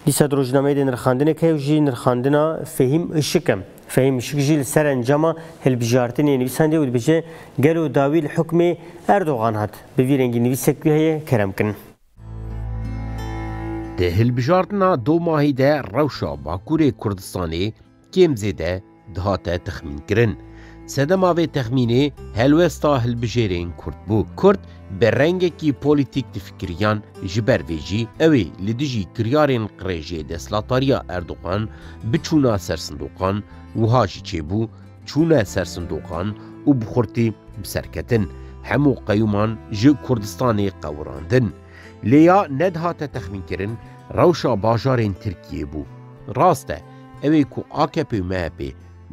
Dîsa di rojnameyê de nirxandinek heye û jî nirxandina Fehîm Işik e. Fehîm Işik jî li ser encama hilbijartinê nivîsandiye û dibêje gelo dawî li hukmê Erdogan hat. Bi vî rengî nivîsek wî heye kerem kin. Di hilbijartina domahî de rewşa Bakurê Kurdistanê kêm zêde dihate texmînkirin. Sedema vê texmînê helwesta hilbijêrên Kurd bû. Kurd bi rengekî polîtîk difikiriyan, ji ber vê jî ew ê li dijî kiryarên qirêjê destlatariya Erdogan biçûna ser sindoqan, wiha jî çêbû, çûne ser sindoqan û bi xurtî bi ser ketin, hemû qeyûman ji Kurdistanê qewirandin. Lê ya nedihate texmînkirin rewşa bajarên Tirkiyê bû. Rast e, Ew ê ku akp û MHPê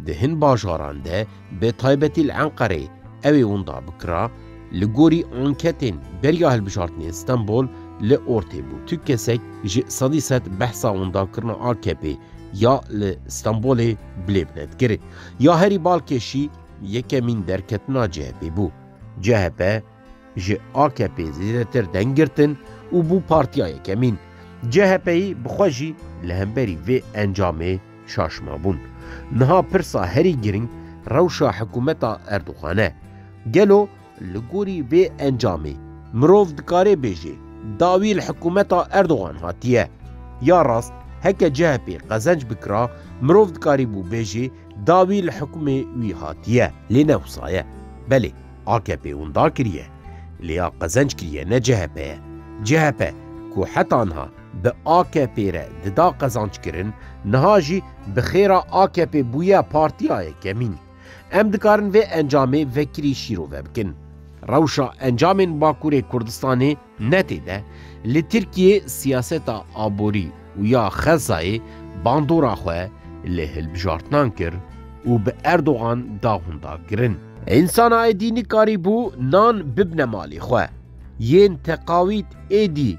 di hin bajaran de bi taybetî li Enqerê ew ê winda bikira, li gorî anketên beriya hilbijartinên Stenbol li ortê bû. Tu kesek ji sedî sed behsa windakirina akpê ya li Stenbolê bi lê bi ne dikir. Ya herî balkêşî yekemîn derketina CHPê bû. CHP, Ji AKP'ê zêdetir deng girtin û bû partiya yekemîn. CHP'yî bi xwe jî li hemberî vê encamê şaş mabûn. Niha pirsa herî giring rewşa hikûmeta Erdogan e. Gelo li gorî vê encamê mirov dikarê bêjê dawî li hikûmeta Erdogan hatiye? Ya rast heke CHP qezenc bikira mirov dikarîbû bêjê dawî li hikûmê wî hatiye lê ne wisa ye. Belê. AKP'ê wenda kiriye, lê ya qezenc kiriye ne CHP ye. CHP ku heta niha bi AKP'ê re dida qezanckirin, niha jî bi xêra AKP'ê bûye partiya yekemîn. Em dikarin vê encamê vekirî şîrove bikin. Rewşa encamên Bakurê Kurdistanê ne tê de, li Tirkiyeyê siyaseta aborî û ya Xezzayê bandora xwe li hilbijartinan kir û bi Erdogan daxunda kirin. Însana êdî nikarîbû nan bibne malê xwe, yên teqawît êdî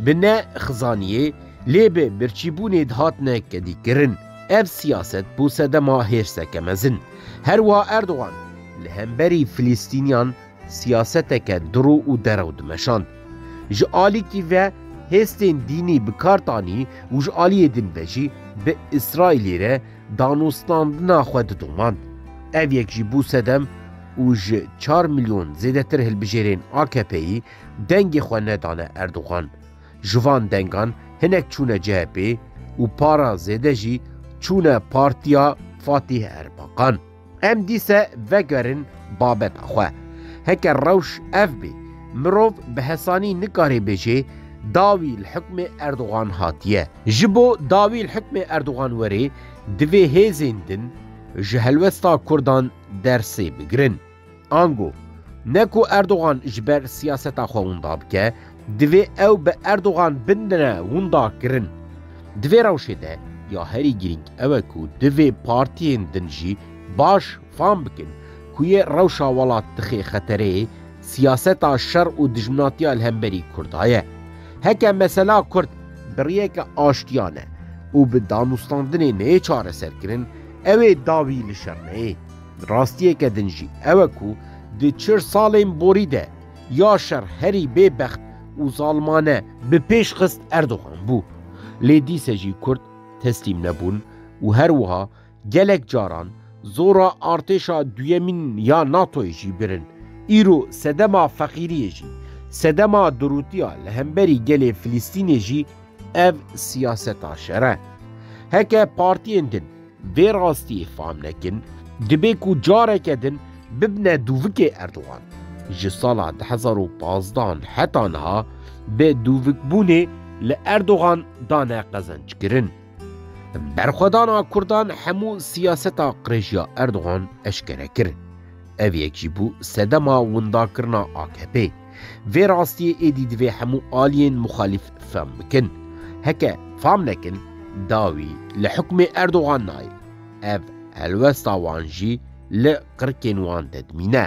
bi ne xizaniyê lê bi birçîbûnê dihatine kedîkirin. Ev siyaset bû sedema hêrseke mezin. Herwiha Erdogan li hemberî Filistîniyan Siyaseteke diro û derew dimeşand. Ji alîkî ve hêstên dînî bi kar tanî û ji aliyê din ve jî bi Îsraîlê re danûstandina xwe didomand. Ev yek jî bû sedem û ji çar milyon zêdetir hilbijêrên AKP'yî dengê xwe nedane Erdogan. Ji van dengan hinek çûne CHP'ê û para zêde jî çûne partiya Fatîh Erbaqan. Em dîse vegerin babeta xwe. Heke rewş ev bê, mirov bi hesanî nikarê bêjê dawî li hukmê Erdogan hatiye. Ji bo dawî li hukmê Erdogan were divê hêzên din ji helwesta Kurdan dersê bigirin. Ango, ne ku Erdogan ji ber siyaseta xwe winda bike, divê ew bi Erdogan bindine winda kirin. Di vê rewşê de ya herî girîng ew e ku divê partiyên din jî baş fam bikin ku yê rewşa welat dixê xetereyê siyaseta şer û dijminatiya li hemberî Kurda ye. Heke mesela Kurd bi riyeke aştiyane û bi danûstandinê neyê çareserkirin, ew ê dawî li şer neyê. Rastiyeke din jî ew e ku di çil salên borî de ya şer herî bêbext û zalmane bi pêş xist Erdogan bû. Lê dîse jî kurd teslîm nebûn û her wiha gelek caran zora artêşa duyemîn ya NATO'yê jî birin. Îro sedema feqîriyê jî, sedema durûtiya li hemberî gelê Filistînê jî ev siyaseta şer e. Heke partiyên din, Vê rastiyê fam nekin, dibe ku careke din bibne dûvikê Erdogan. Ji sala du hezar û pazdeh an heta niha bi dûvikbûnê li Erdogan dane qezençkirin. Berxwedana Kurdan hemû siyaseta qirêjiya Erdogan eşkere kir. Ev yek jî bû sedema windakirina AKP'ê. Vê rastiyê êdî divê hemû aliyên muxalîf fam bikin. Heke fam nekin, dawî li hukmê Erdogan nayê. Ev helwesta wan jî li qirkên wan de dimîne.